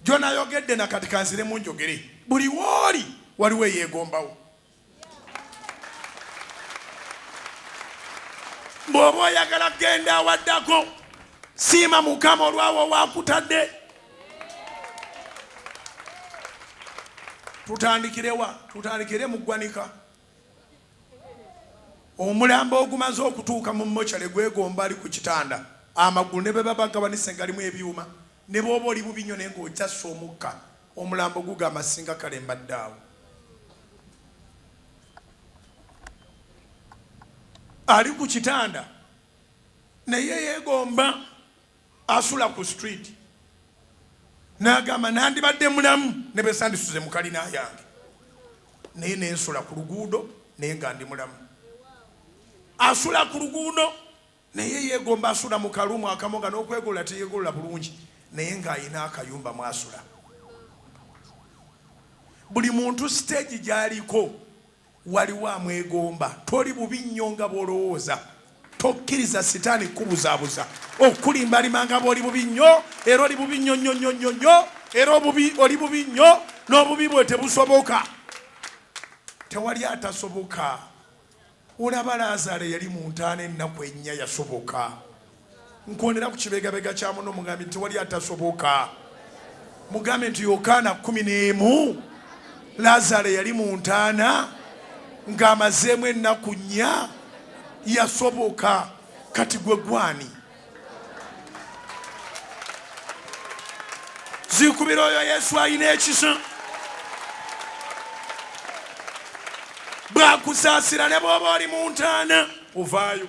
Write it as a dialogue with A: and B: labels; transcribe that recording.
A: gyonayogedde na kati kanziremu njogere buli wooli waliwo eyeegombawo bw'oba oyagala kugenda awaddako siima mukama olwawo wakutadde tutandikirewa tutandikire mu ggwanika omulambo ogumaze okutuuka mu mochale gwegomba ali ku kitanda amagulu ne bwebaba agabanise ngalimu ebyuma ne bwoba oli bubi nyo naye ngaokyassa omukka omulambo gugamba singa kale mbadde awo ali ku kitanda naye yegomba asula ku street n'agamba nandibadde mulamu ne bwe sandisuze mu kalina yange naye ne nsula ku luguudo naye nga ndi mulamu asula ku luguudo naye yeegomba asula mu kalumu akamu nga n'okwegolola teyeegolola bulungi naye ng'alina akayumba mwasula buli muntu siteegi gy'aliko Waliwo amwegomba. Toli bubi nnyo nga bw'olowooza. Tokkiriza Sitaani kukubuzaabuza, okukulimbalima nga bw'oli bubi nnyo, era oli bubi nnyo nnyo nnyo nnyo nnyo, era obubi oli bubi nnyo, n'obubi bwe tebusoboka. Tewali atasoboka. Olaba Laazaalo eyali mu ntaana ennaku ennya? Yasoboka. Nkondera ku kibegabega kya muno, mugambe nti wali atasoboka. Mugambe nti Yokaana kumi n'emu, Lazaalo yali mu ntaana ng'amazeemu ennaku nnya, yasoboka. Kati gwe gwani? Zikubira oyo Yesu alina ekisa. Bwakusaasira ne bw'oba oli mu ntaana ovaayo.